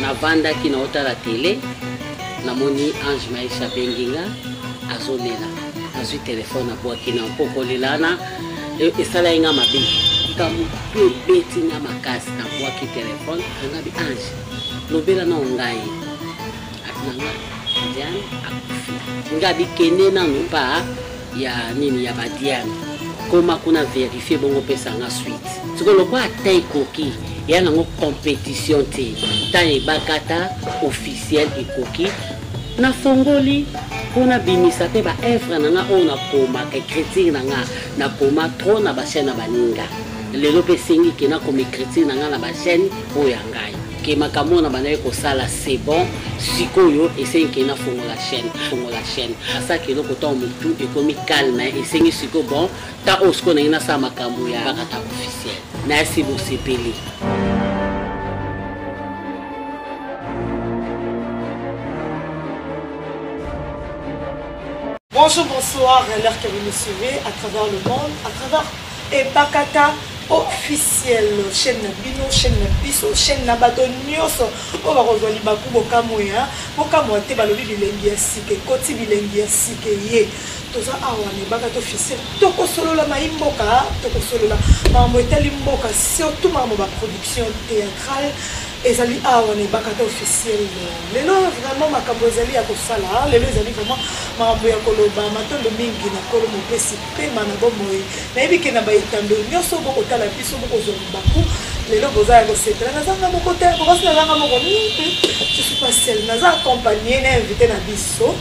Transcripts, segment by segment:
navandaki naotala tele namoni ange maisha abengi nga azolela azwi telefone abwaki na mpo kolelana e, esalaki nga mabe likambo mpe ebeti nga makasi nabwaki telefone angabi ange lobela nao ngai atinanga diane akufi ngabi kende nanu pa ya nini ya badiane koma kuna verifie bongo pesa nga suite siko lokola ata ekoki ya nango competition te ntango ebakata officiel ekoki nafongoli mpo nabimisa mpe baevre na nga oyo nakomaka ekritire na nga nakoma tro na bachaine ya baninga lelo mpe esengi ke nakoma ekritire na nga na bachaine oyo ya ngai ke makambo na bandaki kosala c'est bon sikoyo esengi ke nafongola chaîne fongola chaîne asaki eloko ntango motu ekomi calme esengi sikoyo bon ta oyo sikoyo nangi nasala makambo ya bakata officiel nayasi bosepeli Bonjour, bonsoir, l'heure que vous nous suivez à travers le monde, à travers Ebakata officiel chaine na bino chaine na biso chaine na bato nyonso oyo bakozwa libaku bokamwe ya bokamwa te balobi bilengi ya sika ekoti bilengi ya sika eye toza awa na ebakata officiel tokosolola mai mboka tokosolola makambo etali mboka surtout makambo baproduction théâtrale ezali awa na ebakata officiel lelo vraiment makambo ezali ya kosala lelo ezali vraiment makambo ya koloba matondo mingi na kolo mopesi Pema na bomoi. Nayebi ke na ba etando nioso boko tala biso boko zwa libaku. Lelo boza ya kosepela. Naza nga moko te, boko asi naza nga moko. Hum hum je suis pas seule. Naza accompagne na invite na biso.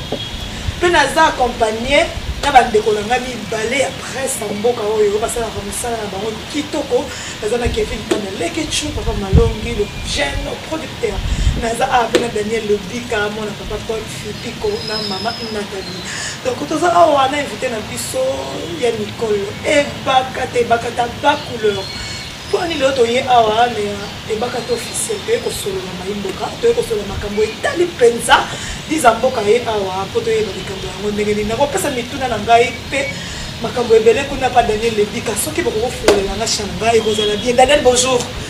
Pe naza accompagne na ba ndeko na nga mibale ya presse na mboka oyo basalaka mosala na bango kitoko. Naza na Kevin Panda Leketchou, Papa Malongi, le jeune producteur. Naza awa pe na Daniel Lobika, mwana Papa Paul. Lipiko na mama Nathalie. Donc toza awa na invité na biso ya mikolo ebaka te ebaka ta ba couleur. Poni leo toye awa na ebaka te officiel toye kosolola mayimboka toye kosolola makambo etali mpenza liza mboka ye awa mpo toyeba likambo yango ndenge nini nakopesa mituna na ngai mpe makambo ebele kuna pa daniel lebika soki bokokofulela nga shamba ekozala bien daniel bonjour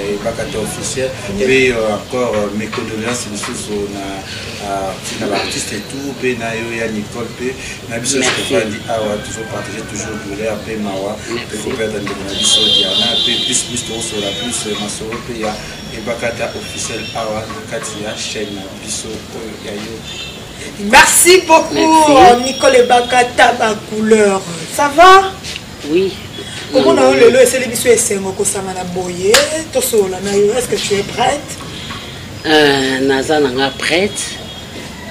ebakata officiel mpe encore euh, mes condoléances lisusu na euh, na baartiste et tout mpe na yo ya nicole mpe na biso nyonso tofandi awa tozopartage toujours douleur mpe mawa mpe koperdre ndeko na biso diana mpe plus plus tokosola plus euh, masolo mpe ya ebakata officiel awa na kati ya chaîne na biso oyo ya yo merci beaucoup nicole ebakata ba couleur ça va Oui. Comment on le laisse les bisous et c'est mon kosama na boye to sola na yo est-ce que tu es prête? Euh naza na nga prête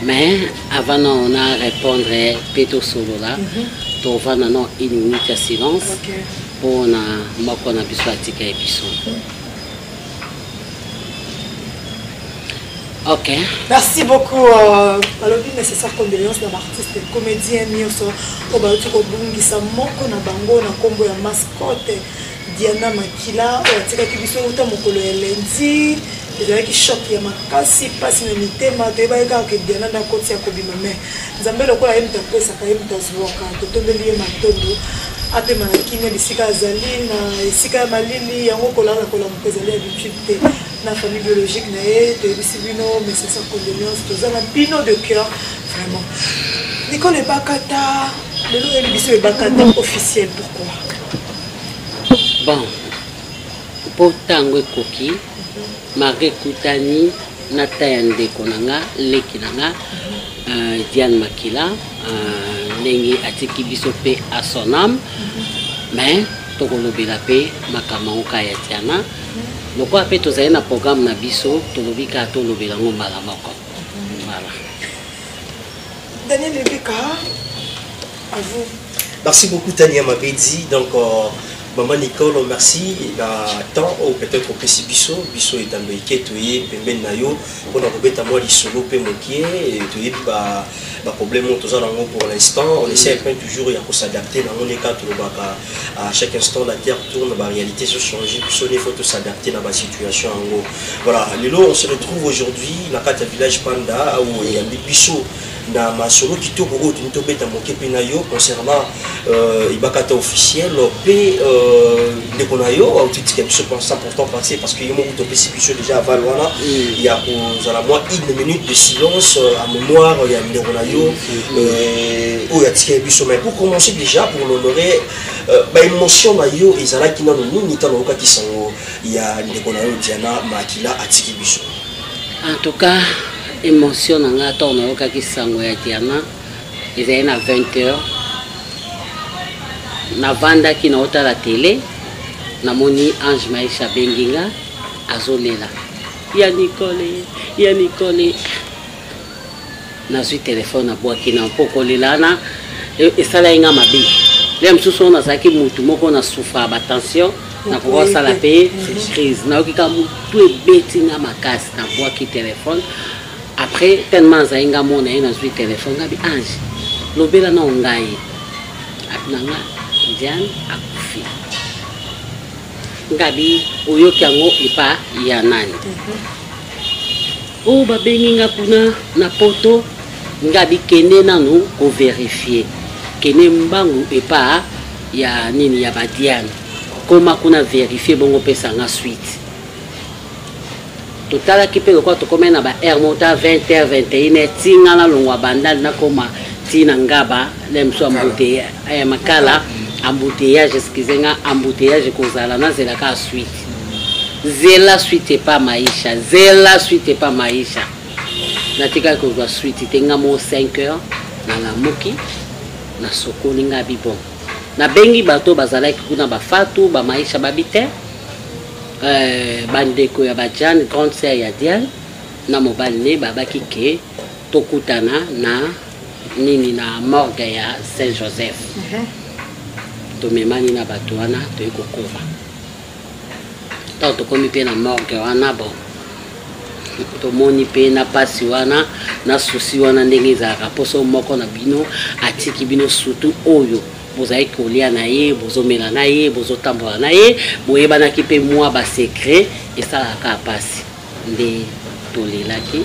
mais avant non on a répondre pe to solo là. Mhm. To va na non une minute de silence. Okay. Pour na moko na bisous atika et bisous. Mm -hmm. Ok. Merci beaucoup. Euh, balobi nécessaire condoléance na baartiste comédien nyonso oyo bauti kobungisa moko na bango na nkombo ya mascotte diana makila oyo atikaki biso uta mokolo ya lendi ezalaki choc ya makasi mpasi na mitema toyebaki kaka ke diana nde akoti ya kobima mai Nzambe lokola ye moto apesaka ye moto azuwaka, totombeli ye matondo apema na kimia bisika azali na esika ya malili yango kolala kolamuka ezali habitude te na famille biologique na ye toyebisi bino mesesa condoléance toza na bino de cœur vraiment nikolo ebakata lelo oyebi biso ebakata officiel pourquoi bon mpo ntango ekoki Marie Kutani na ta ya ndeko na nga leki na nga uh, Diane Makila uh, ndenge atiki biso pe à son âme mais tokolobela pe makambo yango kaka ya Diana lokola pe tozali na programme na biso tolobi kaka tolobela yango mbala moko voilà Daniel Ebika Merci beaucoup Tania Mabedi. Donc, euh, Maman Nicole, merci. Na temps ou peut-être au pesi biso, biso et ando iketo ye pembe na yo pour na kobeta moi lisolo pe mokie et to ye ba ba problème on toza nango pour l'instant, on essaie peine toujours ya ko s'adapter na on est quatre baka à chaque instant la terre tourne, ba réalité se changer, biso il faut tous s'adapter na ba situation en gros. Voilà, lelo on se retrouve aujourd'hui na kata village Panda où il y a biso na masolo kitoko oyo toni tobeta moke mpe na yo concernant euh, ebakata officiel mpe euh, ndeko na yo autitika biso sans pourtant penser parce que ye moko topesi biso déjà aval wana mm. ya kozala mwa une minute de silence euh, à mémoire ya ndeko na yo mm. oyo atikeli biso mais pour commencer déjà pour l'honorer baémotion na yo ezalaki nano nini ntango oyokaki sango ya ndeko na yo diana makila atiki biso En tout cas, emotion na nga ntango nayokaki sango ya diana ezali na 20 heures navandaki naotala tele namoni ange maisha abengi nga azolela ya nikole ya nikole nazwi telefone nabwaki na mpo kolela wana e, esalaki nga mabe ya mosusu oyo nazalaki motu moko na souffra batension nakoki kosala mpe crise nayoki ka motu ebeti nga makasi nabwaki telefone après tellement azali nga mona ye nazwi telefone ngabi ange lobela nao ngai atunanga diane akufi ngabi oyoki yango epa ya nani mhm. o oh, babengi nga kuna na poto ngabi kende nanu koverifie kende mbangu epa ya nini ya badiane koma kuna verifie bongo opesa nga suite totalaki mpe lokola tokomai na ba aire moko ta 20 heure 21 heure ti nga nalongwa bandal nakoma ti na ngaba lemso ya makala embouteillage excuse nga embouteillage ekozala nazelaka suite zela suite epa maisha zela suite epa maisha natikaki kozwa suite te nga moo 5 heures nalamuki nasokoli nga bibon nabengi bato bazalaki kuna bafatu bamaisha babi te euh, bandeko ya bajane grande sœur ya diane na mobali ne babaki ke tokutana na nini na morgue ya saint joseph uh mhm. -huh. tomemani na bato wana toyei kokova ntango tokomi mpe na morgue wana bon tomoni mpe na mpasi wana na susi wana ndenge ezalaka mposo moko na bino atiki bino sutu oyo bozali kolia na ye bozomela na ye bozotambola na ye boyebanaki mpe mwa basekre esalaka mpasi nde tolelaki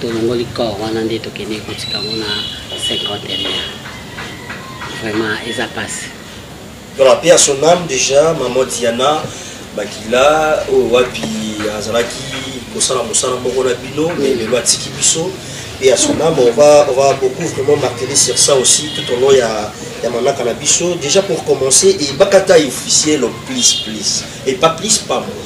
tolongoli corps wana nde tokende kotika yango na cinquantenaire vraiment eza mpasi Voilà, paix à son âme déjà, maman Diana Bakila, oyo oh, wapi azalaki kosala mosala moko na bino, mais lelo atiki biso. Et à son âme, on va, on va beaucoup vraiment marteler sur ça aussi tout au long ya, ya manaka na biso. Déjà pour commencer, et Bakata est officiel, please, please. Et pas plus, pas moins.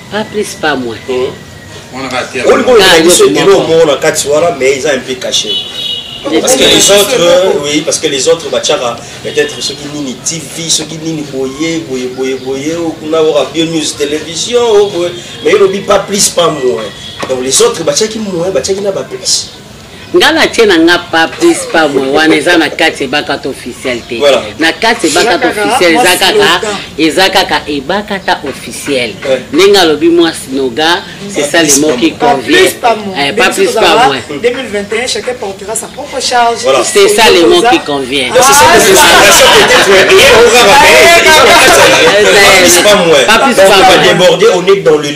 pas plus pas moins moko na kati wana mais eza un peu caché parce que les autres euh, oui parce que les autres batiaka peut-être soki nini tv soki nini boye boye boye boye oh, kuna oka bio news télévision oh, boye mais elobi pas plus pas moins donc les autres batiaki moins batiaki na ba plus nga natie na nga pa plus pa mwe wana eza na kati ebakata officiel te na kati ebakata officiel eza kaka eza kaka ebakata officiel ndenge alobi mwasi noga c'est ça le mot qui convient eh, pas plus pa mwe c'est ça le mot qui convient pas plus pa mwe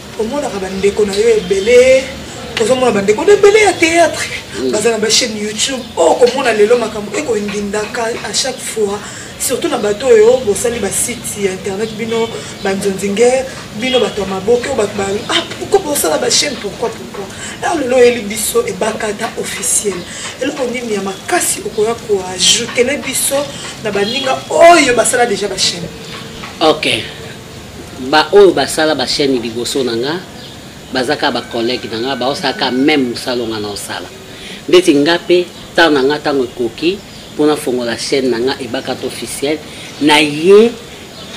omonaka bandeko na yo ebele ozomona bandeko na ebele ya théâtre mm. baza na bachaîne youtube oyo oh, okomona lelo makambo ekoindindaka à chaque fois surtout na bato oyo bosali basite ya internet bino banzonzinge bino bato ya maboke oyo bato bayo ah pourkoi bosala bachaîne pourkoi pourkoi alors lelo oyeli biso ebakata officiel eloko nini ya makasi okoya koajoutele biso na baninga oyo basala déjà bachaîne ok ba oyo basala ba chaîne liboso na nga baza kaka bacollègue na nga baosala kaka meme mosala onga na osala ndeti nga mpe ntango na nga ntango ekoki mpo nafongola chaîne na nga ebakata officiel na ye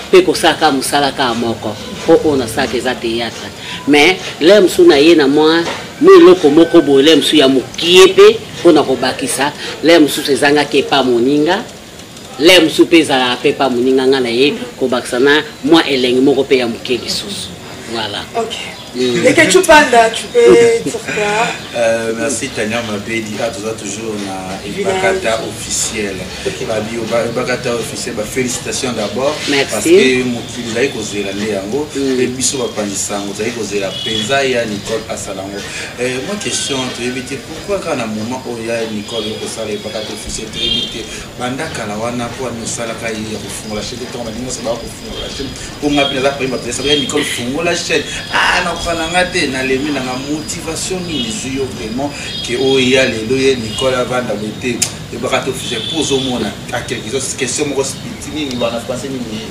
mpe kosala kaka mosala kaka moko mpo oyo nasalaka eza théâtre mais lere mosusu na ye na mwa mwa eloko moko boye lere mosusu ya mokie mpe mpo na kobakisa lere mosusu ezangaki epa moninga lere mosusu mpe ezalaka mpe mpa moninga nga na ye kobakisa na mwa elengi moko mpe ya moke lisusu voilà okay. Mm. Et que tu parles là, tu peux dire quoi euh, Merci Tania Mabedi, ah, tu as toujours na Ibakata officiel. Babi Ibakata officiel, bah, félicitations d'abord. Merci. Parce que mokili zali kozela nde yango mpe mm. biso bapanzi sango zali kozela mpenza ya Nicole Asalango. Euh, moi question toyebi te kaka na moment oyo ya nicole kosala epaka te fise toyebi te banda kala wana mpo ani osalaka ye ya kofungola chaine ntango balingi nyonso baya kofungola chaine mpo nga mpe naza koyeba mpenza ya nicole fungola chaine ah nakoka na nga te nalemi nanga motivation nini ezwi yo vraiment ke oya lelo ye nicole avanda boye te ebaka te officiel mpo ozomona akelke question moko spiti nini wana français nini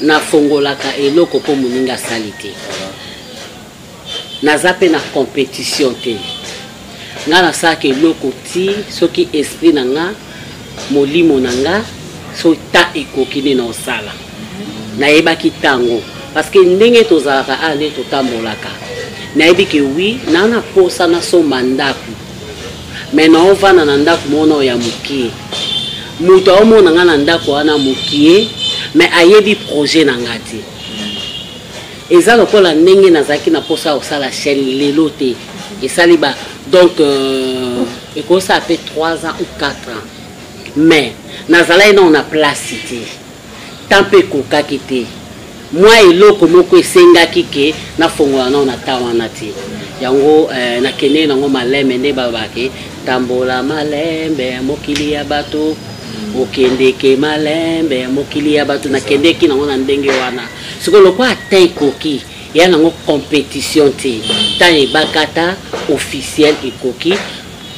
Nafongolaka eloko mpo moninga asali te. Naza mpe na competition te. Nga nasalaka eloko ti soki esprit na nga, molimo na nga, so ta ekoki nde naosala. Nayebaki tango. Parce que ndenge tozalaka awa nde totambolaka. Nayebi ke oui, naa na posa nasomba ndako. mais nao vanda na ndako moko nao ya mokie moto aomona nga na ndako wana mokie mais ayebi projet na nga te eza lokola ndenge nazalaki na mposa ya kosala chaîne lelo te esali ba donc euh, ekosala mpe 3 ans ou 4 ans mais nazalaki nao na place te Temps pe ekokaki te. Mwa eloko moko esengaki que nafongola nao na temps wana te. Yango eh, nakendeki nango malembe nde baloba ke tambola malembe mokili ya bato okendeke malembe mokili ya bato nakendeki nango na ndenge wana sikoyo lokola temps ekoki eya nango compétition te temps ebakata officiel ekoki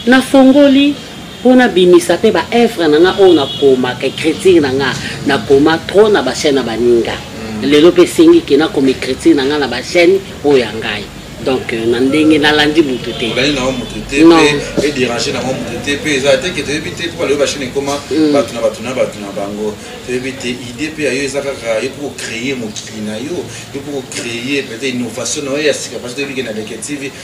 nafongoli mpo nabimisa mpe baevre na nga oyo nakomaka ecriture na nga nakoma trop na bachaine ya baninga mm. lelo mpe esengi ke nakoma ecriture na nga na bachaine oyo ya ngai donc euh, na ndenge nalandi motu te olandi nango motu te mpe dérange nango motu te mpe eza teke toyebi te mpo balobi bashine ekoma mm. bato na bato na bato na bango toyebi te idée mpe yayo eza kaka yo mpo kocreye mokili na yo yo mpo kocreye peut-être innovation na yo ya sika parce toyebi ke na leke tv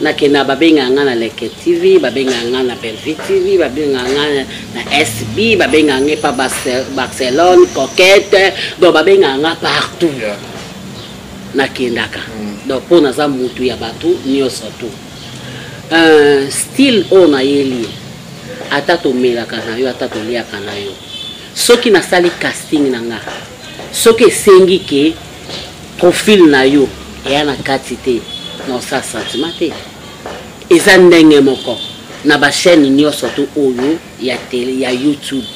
nakenda babengaka nga na leke tv babengaka nga na belvi tv babengaka nga na sb babengaka nga epa barcelone coquete donc babengaka nga partout yeah. nakendaka mm. donc mpo naza mutu ya bato nyonso tu uh, style oyo nayeli ata tomelaka na yo ata toliaka na yo soki nasali casting na nga soki esengi ke profil na yo eya na kati te na osa sentiment te eza ndenge moko na bachaîne nyonso to oyo ya tele ya youtube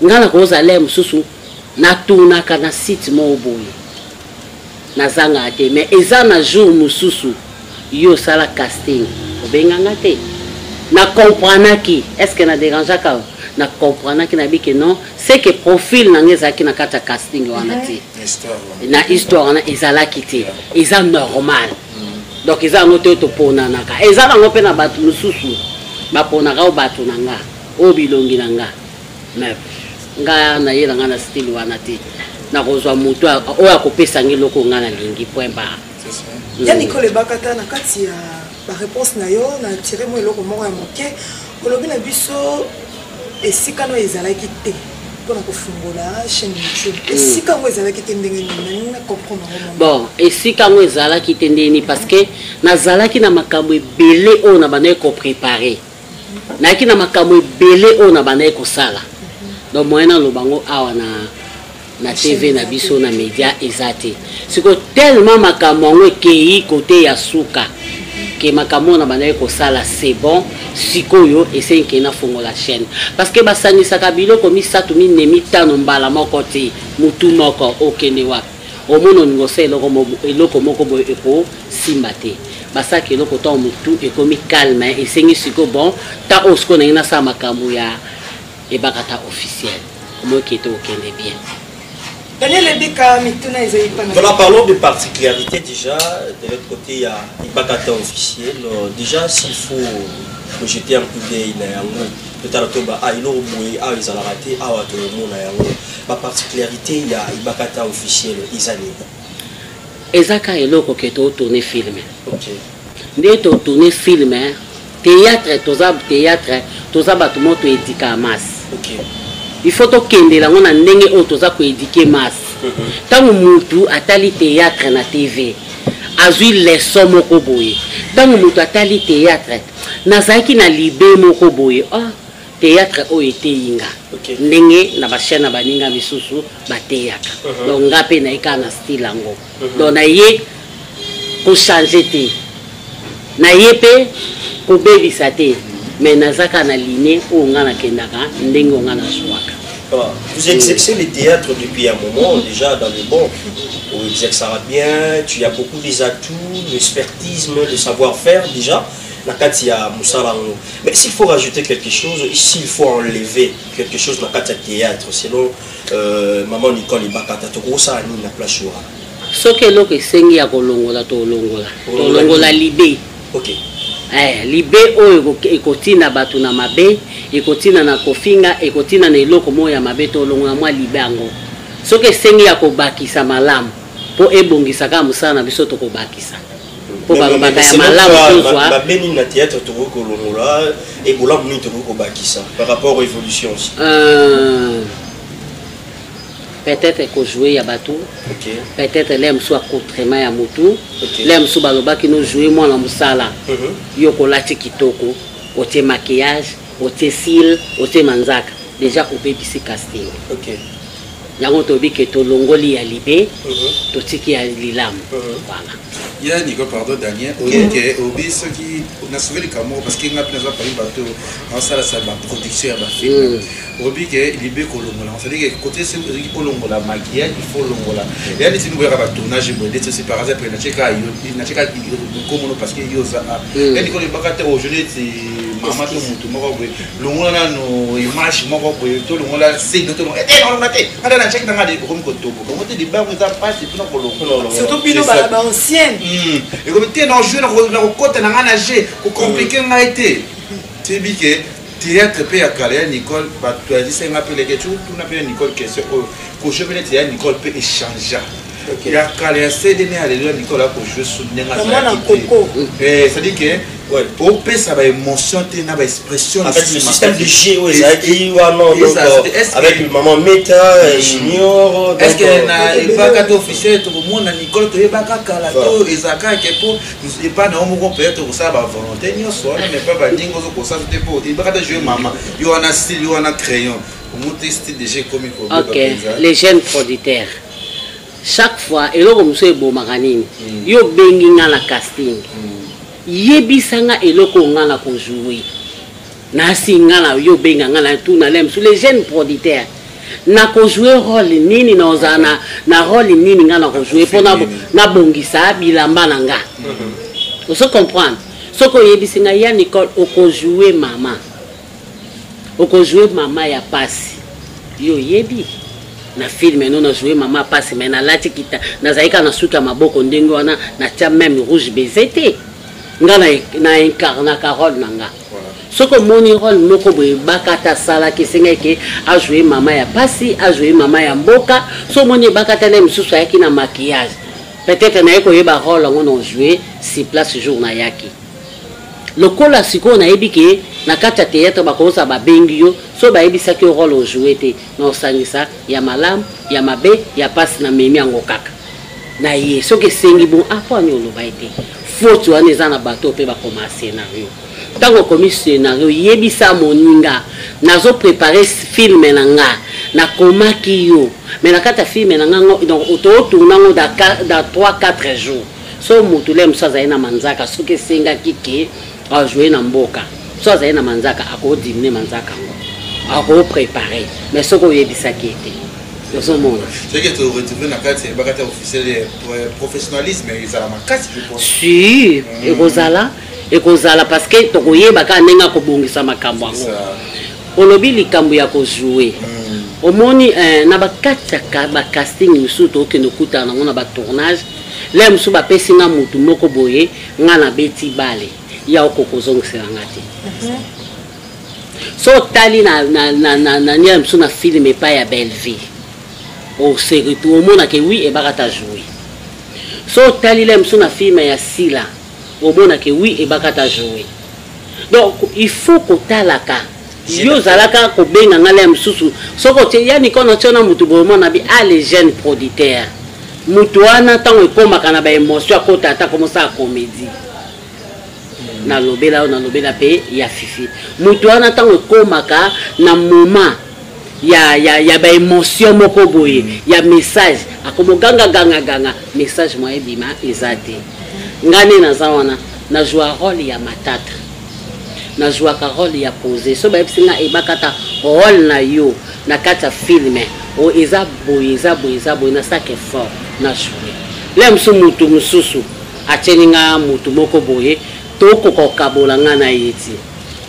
ngai nakozala mosusu natunaka na site moko boye nazangaka te mais eza na jour mosusu yo osala casting obenganga te na comprenaki est ce que na dérangeaka na comprenaki na bike non c'est que profil na nga ezalaki na kati ya casting wana te na histoire wana ezalaki te eza normal mm. donc eza yango te oyo toponanaka eza nango mpe na bato mosusu baponaka o bato na nga oyo bilongi na nga mais nga nayela nga na style wana te nakozwa moto oyo akopesangi eloko nga nalingi point barre ya mikolo ebakata na kati ya Ba reponse na yo na tire mwa eloko moko ya moke olobi na biso esika no ezalaki te mpona kofungola chaîne youtube hmm. esika yango ezalaki te ndenge nini na comprendre yango bon esika yango ezalaki te ndenge nini parce que nazalaki na makambo ebele oyo na bandaki koprépare nayaki na makambo ebele oyo nabandaki kosala donc moyen naloba yango awa na na tv na biso na media eza te sikoyo tellement makambo yango ekei kote ya suka ke makambo oyo nabandaki kosala c'est bon sikoyo esengi ke nafongola chaîne parce que basangisaka biloko misato minei mitano mbala moko te motu moko okende wapi omoni olingi osa eloko, eloko moko boye ekosimba te basalaka eloko ntango motu ekomi calme esengi sikoyo bon ta oyo sikoyo nangi nasala makambo ya ebakata officiel omoki te okende bien Daniel Ebika, mituna eza ipana. Voilà, parlons de particularité déjà. De l'autre côté, il y a Ibakata officiel. Euh, déjà, s'il faut projeter un coup d'œil na yango, peut-être que ba aïlo boye, ah ils ont raté, ah wato mona yango. Ba particularité ya Ibakata officiel eza nini? Eza ka eloko ke to tourner film. Okay. Nde to tourner film hein. Théâtre toza théâtre toza bato moto edika masse. Okay. Il faut tokendela yango na ndenge oyo toza koedike masse. ntango mutu atali théâtre na tv azwi leso moko boye ntango mutu atali théâtre nazalaki na libe moko boye oh, theatre oyo eteyi nga okay. ndenge na bachaine ya baninga misusu bateyaka uh -huh. donc nga mpe naye kaka na style yango uh -huh. donc naye kochange te naye mpe kobebisa te mais naza kaka na ligne oyo nga nakendaka ndenge oyo nga nazwaka Vous exercez les théâtres depuis un moment déjà dans le bon. Vous exercera bien, tu as beaucoup des atouts, l'expertise, le savoir-faire déjà. na kati ya mosala yango mais s'il faut rajouter quelque chose s'il faut enlever quelque chose na kati ya théâtre selon euh, maman nicole ibakata tokosala nini na place wana soki eloko esengi ya kolongola tolongola tolongola libe okay. eh, libe oyo ekotina bato na mabe ekotina na kofinga ekotina na eloko moko ya mabe tolongola mwa libe yango soki esengi ya kobakisa malamu mpo ebongisa kaka mosala na biso tokobakisa mpo balobaka ya malamu tozwa mabe nini na théâtre tokoki kolongola ebolamu nini tokoki kobakisa par rapport aux évolutions aussi euh, peut-être ekojoue ya bato okay. peut-être le mosusu acontrement ya motu okay. le mosusu balobaki nojoue mwana mosala mm -hmm. yo kolati kitoko otie maquillage otie sile otie manzaka déjà obebisi casting okay. Yango tolobi ke tolongoli ya libe totiki ya lilamu voilà ya niko pardon daniel oyeke obi soki nasove likambo moko parceke ngai mpe naza parmi bato aosalasa baproduction ya bafilme obi ke libe kolongola cestadire kote soki ozalaki kolongola maquillage il faut olongola ya neti nikoyaka batournage boye ndeti osi par exemple natieka nkomono parceke yo oza a ya niko libaka te aujourd'hui eti mama to motu moko boye longola nano image moko boye tolongola sede tolongola te nalonga te ata na chaki nanga ekomi kotoboka yango te libango eza mpasi mpona kolongosurtout bino bana baancienne hmm. ekomi te na jeu na kokota na ngai na jeu kokomplike hmm. ngai te toyebi ke théâtre mpe ya kala ya nicole bato yazisaki ngai mpe leke tuna mpe ya nicole question oyo kosho mpe neti ya nicole mpe echangea ya kala ya cd ne aleluya mikolo ako joue su ndenge azalaki te c'est à dire que opesa ba émotion te na ba expression avec le système de jeu oyo ezalaki wana donc avec le maman meta junior est ce que na evaka to officiel tokomona nicole toyebaka kala to ezalaka ke mpo epa na yo moko mpenza tokosala ba volonté nyonso wana mais pa baninga ozokosaso te mpo ebaka ta jeu mama yo wana style yo wana crayon omuti style de jeu ekomi kobe ok les jeunes producteurs chaque fois eloko mosusu ebomaka nini mm. yo obengi nga na casting mm. yebisa nga eloko nga na kojoue nasi nga na yo obenga nga na tuna le mosusu le jeune producteur na kojoue role nini na ozala na, na role nini nga na kojoue mpo nabongisa bilamba na nga mm-hmm. ozo comprendre soki oyebisi nga ya nicole okojoue mama Oko jouer mama ya pasi. Yo yebi na film no na jouer mama pasi mais nalati kita nazali kaka na suki ya maboko ndenge wana natia meme rouge baiser te nga na, na incarnaka role na nga soki omoni role moko boye bakata asalaki esengaki ke ajoue mama ya pasi ajoue mama ya mboka so omoni ebakata na ye mosusu ayaki na maquillage peut-être naye koyeba role yango na ojoue si place jour nayaki lokola sikoyo nayebi ke na kati ya theatre bakoza babengi yo so bayebisaki yo role ojoue te na osangisa ya malamu ya mabe ya mpasi na memi yango kaka na ye soki esengi bon apo ah, ani oloba ye te foti wana eza na bato mpe bakoma scenario ntango okomi scenario yebisa moninga nazo prepare filme na nga nakomaki yo me na kati ya filme na nga donc totourna ngo da 3 4 jours so moto lem so azali na manzaka soki esengaki ke ajoue na mboka so azali na manzaka akodimine manzaka yango akoprepare mais soki oyebisaki ete ozomona soki toretrouve na kati yebaka te officiel professionnalisme ezala makasi sur mm. ekozala ekozala parce que tokoyeba kaka ndenge akobongisa makambo yango olobi likambo ya kojoue mm. omoni eh, na bakati ya bacasting mosusu tokokende okutana yango na batournage Lelo mosusu bapesi nga motu moko boye nga nabeti bale ya oko kozongisela nga te mhm. so otali na niele mosusu na filme epai ya bellevie oseretour omonake wi ebakata joue so otali le mosusu na filme ya sila omona ke oui ebakata joue donc il faut kotalaka yo ozalaka kobenga ngai laya mosusu soki otie ya nikono tio na motu boye omona bi a les jeunes producteurs motu wana ntango ekomaka na baémotion akota ata komosala comédie hmm. nalobela yo nalobela mpe ya fifi motu wana ntango ekomaka na moment ya, ya, ya ba emotion moko boye mm. ya message akomo ganga ganga ganga message moye bima eza te nga nde naza wana nazwa role ya matata nazwaka role ya pose so bayebisi nga ebakata role na yo na kati ya filme o eza boye eza boye eza boye nasaki effort nazwi le mosusu motu mosusu atyeli nga motu moko boye tokoka kokabola nga na ye ti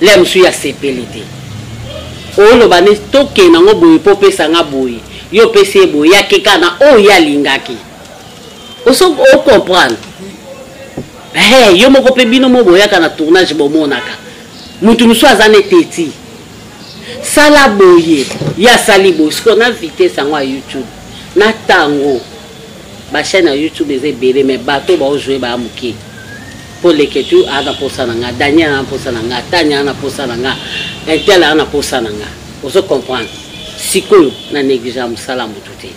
Lea mosusu ye asepeli te oloba ne tokende yango boye mpo opesa nga boye yo opesi ye boye yake kaka na oyo ye alingaki ocomprendre hey, yo moko mpe bino mo boyaka na tournage bomonaka motu mosusu aza ne teti sala boye ye asali boye sikoyo na vitese yango ya youtube na ntango bachaine ya youtube eza ebele me bato baojoue baya moke mpo leketu aa na mposa na nga daniel aa na mposa na nga tani aa na mposa na nga intel aa na mposa na nga ozo comprendre sikoyo na negligea mosala motu te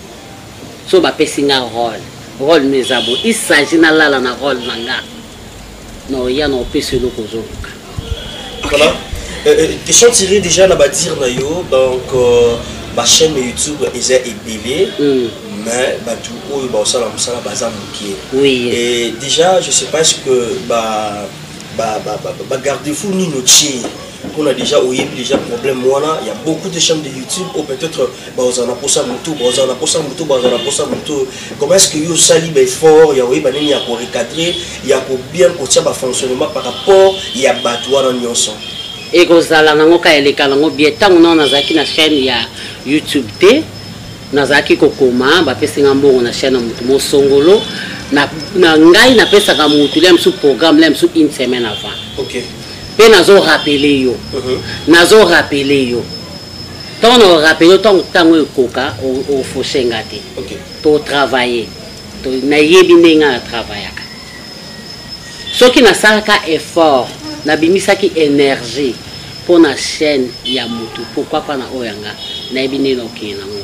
so bapesi nga role role no eza bo isagi nalala na role na nga na oya na opesi eloko ozoluka Voilà. Euh, euh, question tirée déjà na ba dire na yo donc euh, ba chaîne YouTube eza ebele mm. mais batu oyo ba osala musala baza mukie. Oui. Et déjà je sais pas ce que ba ba ba ba, ba garde-fou nino tchie. On a déjà oyebi déjà problème wana, il y a beaucoup de chaînes de YouTube ou peut-être bazala na posa motu bazala na posa motu bazala na posa motu comment est ce que yo osali baeffort ya koyeba ndenge ya korecadre ya kobien kotia bafonctionnement par rapport ya bato wana nyonso ekozala nango ka eleka nango bie ntango nao nazalaki na chaîne ya youtube te nazalaki kokoma bapesi nga mbongo na chaîne ya motu mosongolo na, na ngai napesaka motu lia mosusu programme lia mosusu une semaine avant okay. mpe nazo rapele yo uh mhm. -huh. nazo rapele yo Tant na rappeler yo tango tango ekoka o faucher nga te. OK. To travailler. To na yebi ndenge na travaillaka. Soki na salaka effort, na bimisaki énergie pour na chaîne ya mutu pourquoi pas na oyo nga na yebi ndenge na okende nango.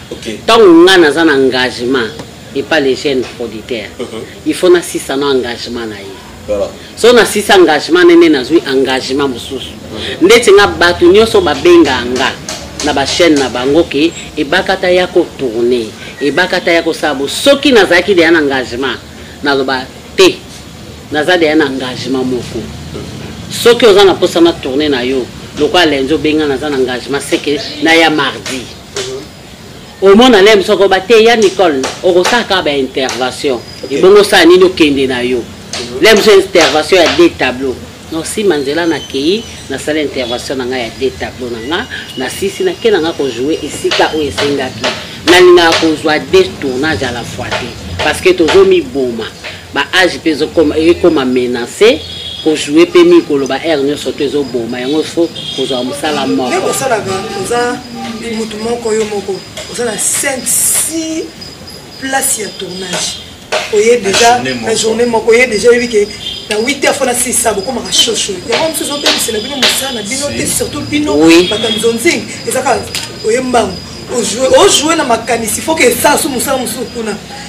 okay. ntango ngai naza na engagement epa le jeune producteur uh mhm. -huh. il faut nasisa na engagement na ye voilà. so nasisa engagement nene nazwi engagement mosusu uh mhm. -huh. ndeti nga bato nyonso babengaa nga na bachaîne na bango ke ebakata ya kotourne ebakata ya kosala bo soki nazalaki deya na engagement naloba te naza deya na engagement moko mhm. soki oza na mposa na tourne na yo lokola lenzo obenga naza na engagement seke na ya mardi omona lem soko bateya nicole okosala kaka baintervention ebongo osala nini okende na yo lem so intervention ya de tableau nosima nzela nakei nasala intervention na ngai ya de tableau na nga nasisi nake na nga kojoue esika oyo esengaki nalingaka kozwa de tournage à la fois te parce que tozomiboma ba age mpe ekoma menace kojoue mpe mingi koloba aire nyonso to ezoboma yango fo kozwa mosala moko osalaka oza motu moko yo moko oza na 5 6 place ya tournage oye deja na journée moko oye deja oyebi ke na 8 heures fona sisa bokomaka shosho yango mosusu ozobebisela bino mosala na bino te surtout bino bato ya mizonzingi ezaka oye mbangu ojoue na makanisi foke esala so mosala mosusu kuna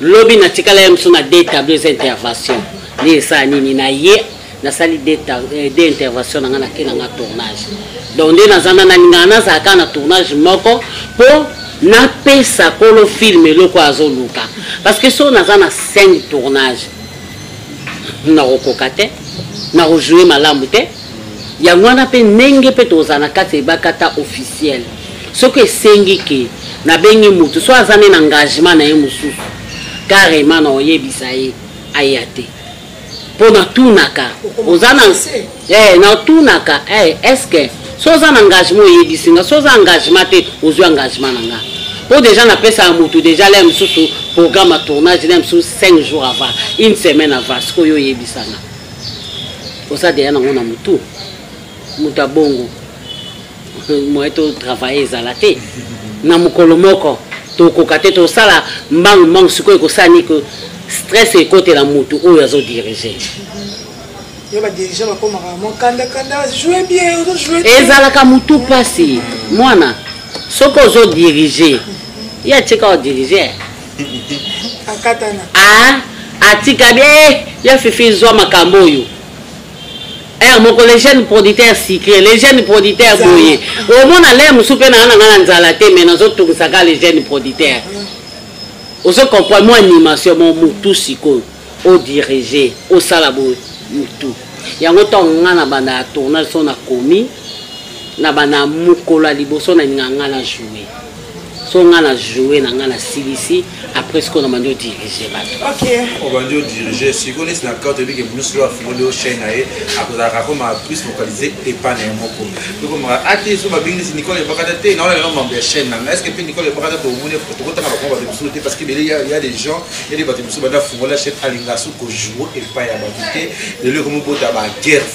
lobi natikala ya mosu na de tableau eza intervention nde esala nini na ye nasali de eh, intervention na ngai nake na ngai tournage donc nde naza na nalingaka nazala kaka na tournage moko mpo napesa kolo filme eloko azoluka parce que soki naza na 5 tournage nakokoka te nakojoue malamu te Yango wana mpe ndenge mpe tozala na kati ya ebakata officiel soki esengi ke nabengi motu so aza nde na engagement na ye mosusu karema na oyebisa ye aya te mpo natunaka oza na eh, natunaka eh, eske so oza na engagement oyebisi nga so oza engagement te ozwi engagement na nga mpo deja napesaka motu deja lea mosusu programme ya tournage lea mosusu 5 jours avant une semaine avant sikoyo oyebisanga oza deya nango na motu moto ya bongo moye totravaille ezala te na mokolo moko tokoka te tosala mbangu mbangu sikoyo ekosala nini ke stress ekotela motu oyo azodirige ezalaka motu mpasi mwana soki ozodirige ye atika odirige akatana ah, atika bie eh, ya fifi zwa makambo oyo ere eh, moko le jeune producteur sucré le jeune producteur boye omona lere mosusu mpe naa na ngai na nzala te mai nazotungisaka le jeune producteur ozo comprendre mo animation mo motu sikoyo odirige osala boye motu yango ntango ngai na banda ya tournage so nakomi na banda mokolo ya liboso na ninga ngai na joue so nga na joue na nga na silisi après sikoyo na bandi odirige bato obandi odirige sikoyo neti na karte ebike blues lo afungoli yo chaine na ye akozalaka akoma plus localise epa na ye moko ekomaka ate so babingisi nicole ebakata te na olalelo mambo ya chaine nanga estce mpe nicole ebakata tomoni tokotanga bakoma bato mosusu te parce que bele ya des gens ya de bato mosusu banda fungola chaine alinga su kojoue epa ya bato te lelo ekomobota baguerre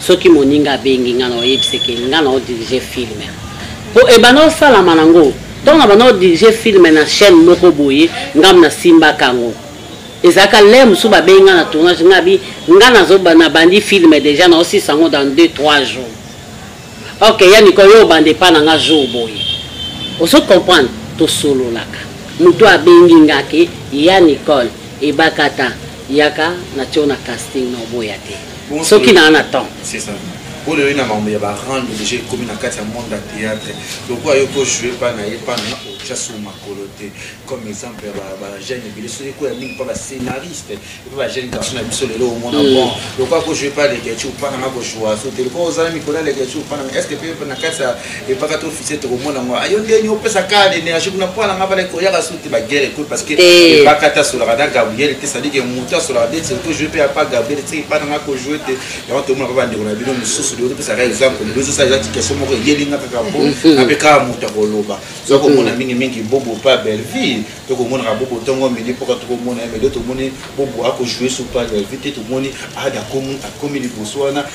soki moninga abengi nga na oyebise ke nga na odirige film po ebanda osalama nango ntango na banda odirige film na chaîne moko boye ngam nasimbaka yango ezalaka le mosusu babengi nga na tournage nga bi nga nabandi film deja na osisa yango dans 2 3 jours ok ya nikolo yo obanda epa na nga jour boye ozo comprendre tosololaka moto abengi nga ke ya nicole ebakata yaka natio na casting na oboya te soki naa na temps c'est ça oyo oyo na makambo ya barande deja ekomi na kati ya monde ya théâtre lokola yo ko joue pa na ye pa na otya sur makolo te comme exemple ya bajeune ebele soki ekoya mingi mpa bascénariste epe bajeune garçon na biso lelo omona mm. bon lokola ko joue pa legecu mpa nanga kojoua so te lokola ozala mikolo ya legecu mpa nanga est ce que mpe na kati ya epaka to officier tokomona ngo ayo ndeni opesa ka l'énergie kuna mpo alanga bala ekoyaka su te baguerre ekoyi parce que ebaka te asolaka na gabriel te sadi ke moto asolaka te te otojoue mpe apa gabriel te epa nanga kojoue te yango tomona mpe bandeko na bino mosusu leo topesaka exemple lelo ezosa eza tikestion moko eyeli nga kaka mpo ape kaka moto akoloba soki komona mingi mingi bobo mpe belleville to komonaka bobo ntongo midi mpoka tokomona ye mais leo tomoni bobo akojoue su mpe belleville te tomoni ada akomi liboso wana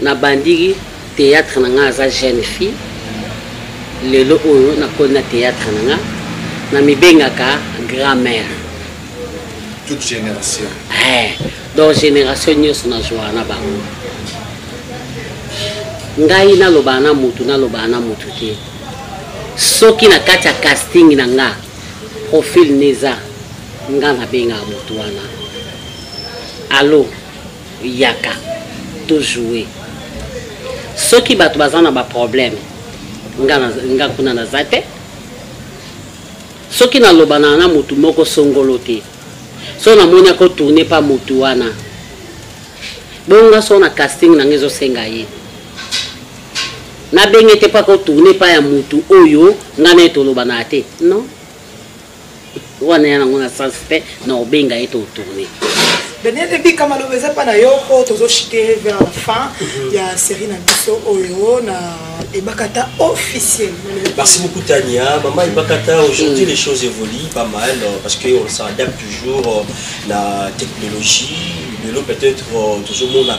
Na bandiki theatre na nga aza jeune fille lelo oyo na koli na theatre na nga na mibengaka grand mère toute génération eh, donc génération nyonso nazwaka na bango ngai nalobaka na motu nalobaka na motu te soki na kati ya casting na nga profil neza nga nabengaka motu wana alo yaka to joue soki bato baza na baproblème nga kuna naza te soki nalobanaka na motu moko songolo te so namoni akotourne pa motu wana bongo nga so na casting na nga ezosenga ye nabenge te mpo akotourne pa ya motu oyo ngai na ye tolobanaka te non wana ya nango na sens te na obenga ye totourne daniel ebika maloba eza mpa na yo mpo tozoshite vers la fin mhm. ya série na biso oyo na ebakata officiel merci beaucoup tania mama ebakata aujourd'hui mm. les choses évoluent pas mal euh, parce que on s'adapte toujours euh, na technologie lelo peut-être euh, tozomona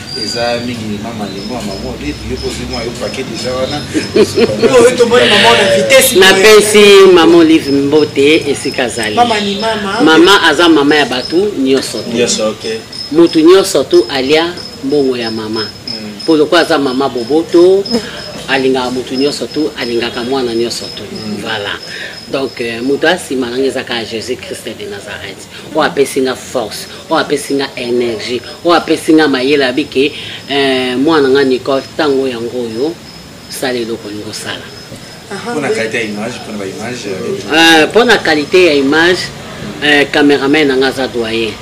eza mingi mema malimo ya mama olive yo kozwi mwa yo pake deja wana napesi mama olive mbote esika azali mama aza mama ya bato nyonso te motu nyonso tu alia mbongo ya mama mpo hmm. lokola aza mama boboto alingaka motu nyonso tu alingaka mwana nyonso tu hmm. voilà donc euh, moto asima nanga ezaka jésus christ de nazareth oyo apesi nga force oyo apesi nga energie oyo apesi nga mayele abi ke eh, mwana nga nicole ntango yango oyo sala eloko olingi osala mpo na kalite ya image mpo na baimage mpo na kalite ya image cameraman na nga aza doyen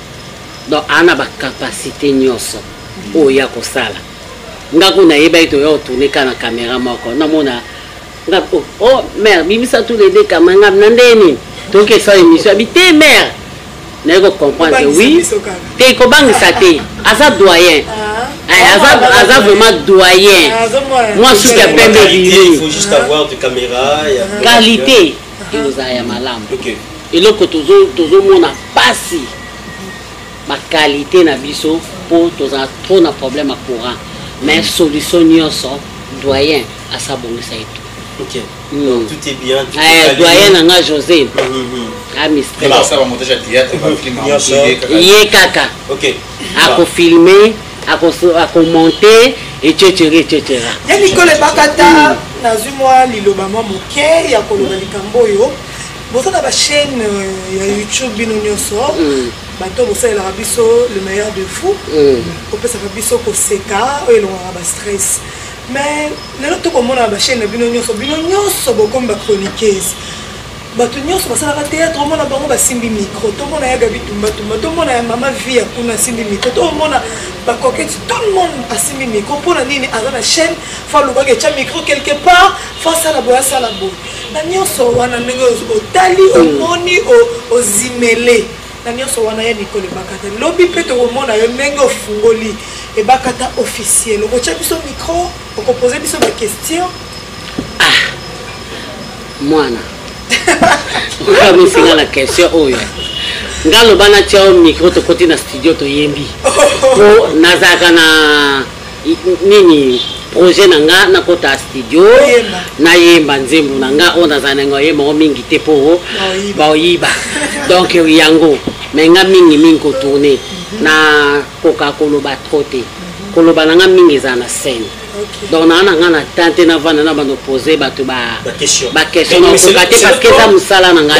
donc aa na bacapacité nyonso oyo ya kosala nga kuna nayebaki toya otourne ka na camera moko namona nga po oh mère bimisa tous les deux kama nga na ndenge nini tokesa émission abi te mère naye ko comprendre oui te kobangisa te aza doyen ah. eh, aza aza vraiment doyen ah, mwa suki ya pembe bilei qualité ekozala ya malamu eloko tozomona mpasi ba qualité na biso po tozala trop na problème ya courant mais mm. solution nyonso doyen asabongisa etu okay. mm. Donc, tout est bien tout eh, doyen na nga josé mm -hmm. amistrye ye kaka okay. akofilme akomonte ececere ececera ya likolo ebakata nazwi mwa liloba mwa moke ya koloba likambo oyo boza na bachaîne euh, ya youtube bino nyonso mm. bato oyo bosalelaka biso le meilleur de vous kopesaka eh. biso koseka oyo elongaka bastress mais lelo tokomonaka bachaine na bino nyonso bino nyonso bokomi bachroniqueuse bato nyonso basalaka théâtre omona bango basimbi micro tomona ya gabi tumbatumba tomona ya mama vie ya kuna asimbi micro tomona bakoketi tout le monde asimbi micro mpo na nini aza na chaîne fa alobaka etya micro quelque part fa asala boye asala boye na nyonso wana ndenge otali mm. omoni ozimele na nyonso wana ya mikolo ebakata lobi mpe tokomona yo ndenge ofungoli ebakata officiel okotya biso micro okopoze biso baquestion ah, mwana okamisi na question oyo nga aloba natya yo micro tokoti na studio toyembi po nazalaka na nini projet na nga nakota studio nayemba nzembo na nga oyo nazala nango oyemba yango mingi te mpo baoyiba donc yango me nga mingi mingi kotourne mhm. na koka koloba tro te mhm. koloba na nga mingi ezala na scène donc naa na nga na temps te navanda na bando pose bato baquestion nakoka te parce que eza mosala na nga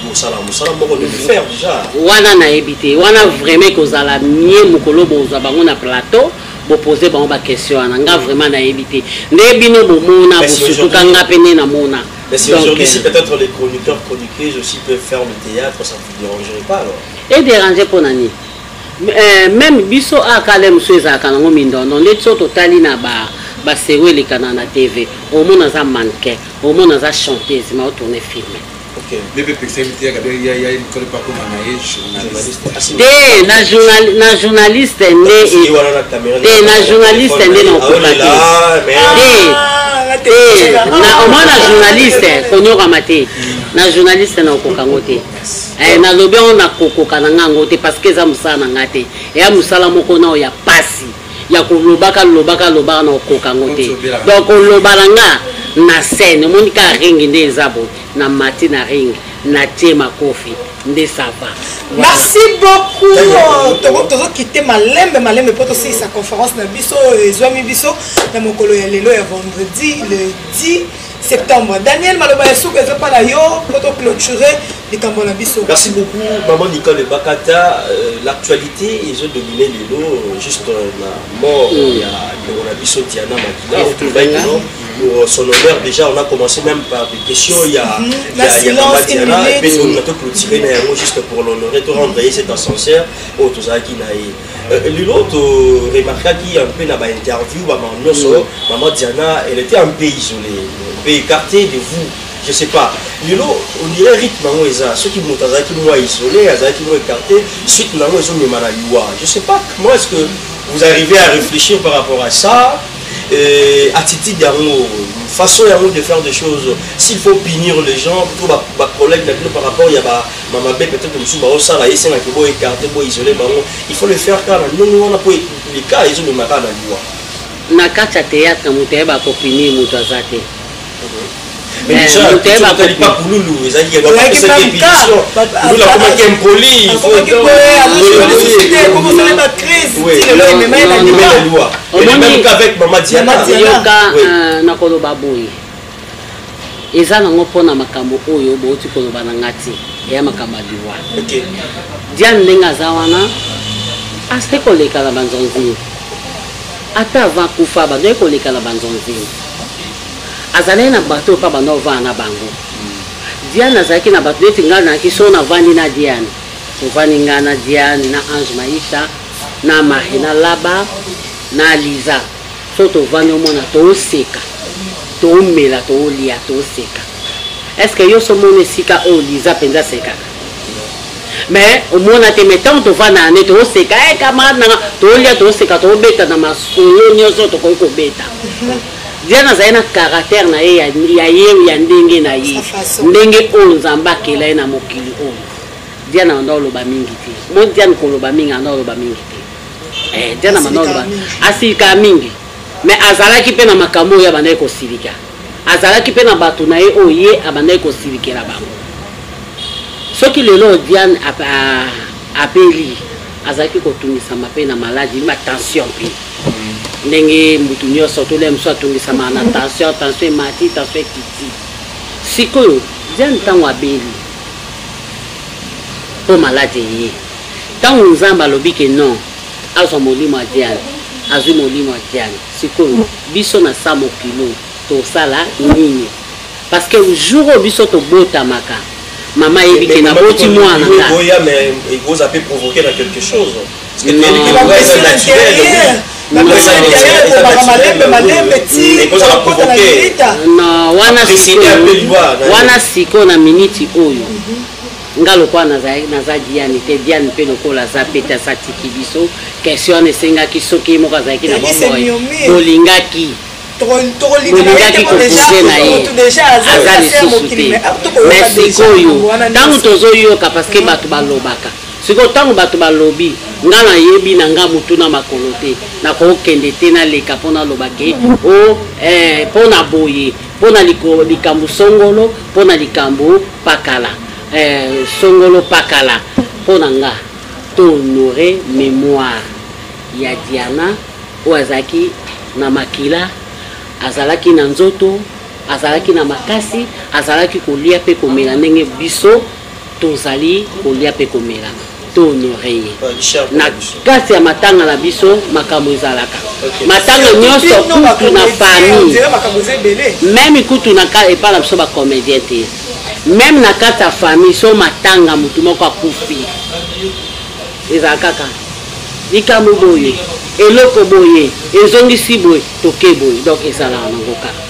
kosala mosala moko de fer déjà wana nayebi te wana vraiment ekozala mie mokolo bozwa bango na plateau bopose bango baquestion wana nga vraiment nayebi te nde bino bomona bosutuka nga mpe nde namona Mais si aujourd'hui, si euh, peut-être les chroniqueurs, chroniqueuses aussi peuvent faire le théâtre, ça ne vous dérangerait pas alors Et déranger pour Nani euh, Même biso a kale musu ezalaka nango mindondo nde biso totali na ba basewe elekana na tv omona aza mannequin omona aza chanteuse ma otourne filme te na journaliste nde te na journaliste nde nakokoka te te omoi na journaliste konyokama te na journaliste nakokoka yango te eh, nalobi yango nakokoka na nga yango te parce que eza mosala na nga te eya mosala moko nao ya pasi ya kolobaka lobaka lobaka na kokoka yango te donc koloba na nga na scène omoni kaka ringi nde eza boye na mati na ringi natie makofi nde sava merci beaucoup euh, tozokite malembe malembe mpo tosilisa conférence na biso euh, ezwami biso na mokolo ya lelo ya vendredi le 10 septembre daniel maloba ya suka ezopala yo mpo toclôture likambo na biso merci beaucoup maman nicole bakata euh, l'actualité ezo domine lelo euh, juste euh, na mort mm. ya ndeko na biso diana makila otobaki kino pour son honneur déjà on a commencé même par des questions il y a mm -hmm. la il y a maman diana et puis on a tout clôturé na yango juste pour l'honorer to rendre ye cet ascenseur oyo tozalaki na ye lelo toremarkaki un peu na bainterview bamama nyonso maman diana elle était un peu isolée un peu écartée de vous je sais pas lelo on dirait rythme yango eza soki moto azalaki mwa isolé azalaki mwa écarté suite na yango ezomema na liwa je sais pas comment est-ce que vous arrivez à réfléchir par rapport à ça euh, attitude yango façon yango de faire des choses s'il faut punir les gens to bacollègue na bino par rapport ya bamabe peut-être mosusu baosala esengaki bo écarté bo isolé bango il faut le faire kaka na ndenge wana mpo lika ezomema kaka na liwa na kati ya théâtre moto ayeba kopinir moto aza te Eh, nakoloba boye eza nango mpona makambo oyo bouti koloba na nga te eya makambo ya liwa diane ndenge aza wana asali koleka na banzonzini ata avant kufa bandaki koleka na banzonzini azalaki na bato oyo pa banda ovanda na bango diane azalaki na bato neti ngai nayaki so navandi na diane tovandi ngai na diane na ange maisha na marie na laba na liza so tovandi omona tooseka toomela toolia tooseka estce yo so omona esika oyo liza mpenza asekaka mais omona te mais ntango tovanda na nde tooseka e eh, camarade nanga toolia tooseka toobeta na masolo nyonso tokoki kobeta Diana azali na caractère na ye ya ye ya ndenge na ye ndenge oyo nzambe akela ye na mokili oyo diana banda oloba mingi te mo diane koloba mingi anda oloba mingi te eh, diana banda oloba asilika mingi mais azalaki mpe na makambo oyo abandaki kosilika azalaki mpe na bato na ye oyo ye abandaki kosilikela bango soki lelo diane apeli azalaki kotungisama mpe na maladi ma tension mpe ndenge mutu nyonso tolea mosusu atungisamaka na tension tension emati tension ekiti sikoyo diane ntango abeli mpo maladi eye ntango nzambe alobi ke non azwa molimo ya diane azwi molimo ya diane sikoyo biso na sa mokilo tosala nini parce que jour oyo biso tobotamaka mama ayebi ke naboti mwana ekozala mpe provoke na quelque chose wana sikoyo na miniti oyo nga lokola naza diane te diane mpe lokola aza mpe te asatiki biso question wana esengaki soki ye moko azalaki na bomoi bolingaki bolingaki kopoze na ye aza lisusu te mais sikoyo ntango tozoyoka parce que bato balobaka Sikoyo tango bato balobi nga na yebi na nga mutu na makolo te na ko kende te na leka po na loba ke oh eh po na boye po na likambo songolo po na likambo pakala eh songolo pakala po na nga to honore memoire ya Diana oyo azalaki na makila azalaki na nzoto azalaki na makasi azalaki kolia pe komela ndenge biso tozali kolia mpe komela to honore ye na kati ya matanga na biso makambo ezalaka matanga nyonso kutu na famille meme kutu epai na biso bacomédien te meme na kati ya famille so matanga motu moko akufi ezala kaka likambo boye eloko boye ezongisi boye toke boye donc ezalaka nango kaka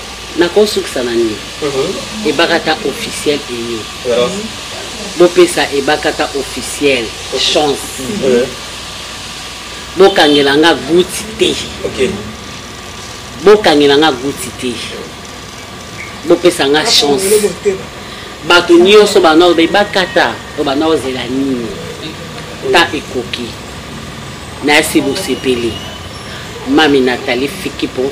nakosukisa na nini mhm. ebakata officiel eye bopesa ebakata officiel chance mhm. bokangela nga guti te bokangela nga guti te bopesa nga chance bato nyonso banao baye bakata oyo banao zela nini ta ekoki nayasi bosepeli mami natali fiki mpo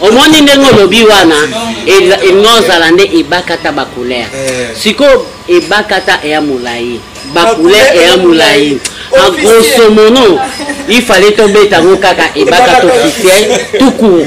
omoni ndenge olobi wana ekozala nde ebakata bacouleur eh. sikoyo ebakata eya molai bacouleur eya molai en grosso mono il fallait tobeta yango kaka ebakata officiel tout court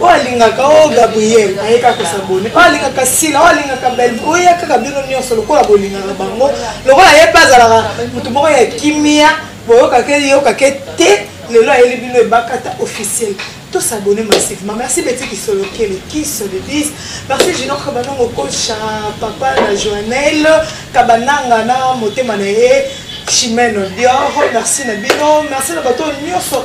oyo alingaka o oh, gabriel ayeka kosabone oyo oh, alingaka sila oyo oh, alingaka bel oya kaka bino nyonso lokola bolingaka bango lokola ye mpe azalaka moto moko ya kimia boyokake yokake te lelo ayeli bino ebakata officiel tous abonnés massivement. Merci Betty qui sont lequel qui se le disent. Merci Gino Kabanongo Kocha, Papa la Joannelle, Kabananga na Motema Nae, Chimène Dior. Merci Nabino, merci na bateau Nyoso.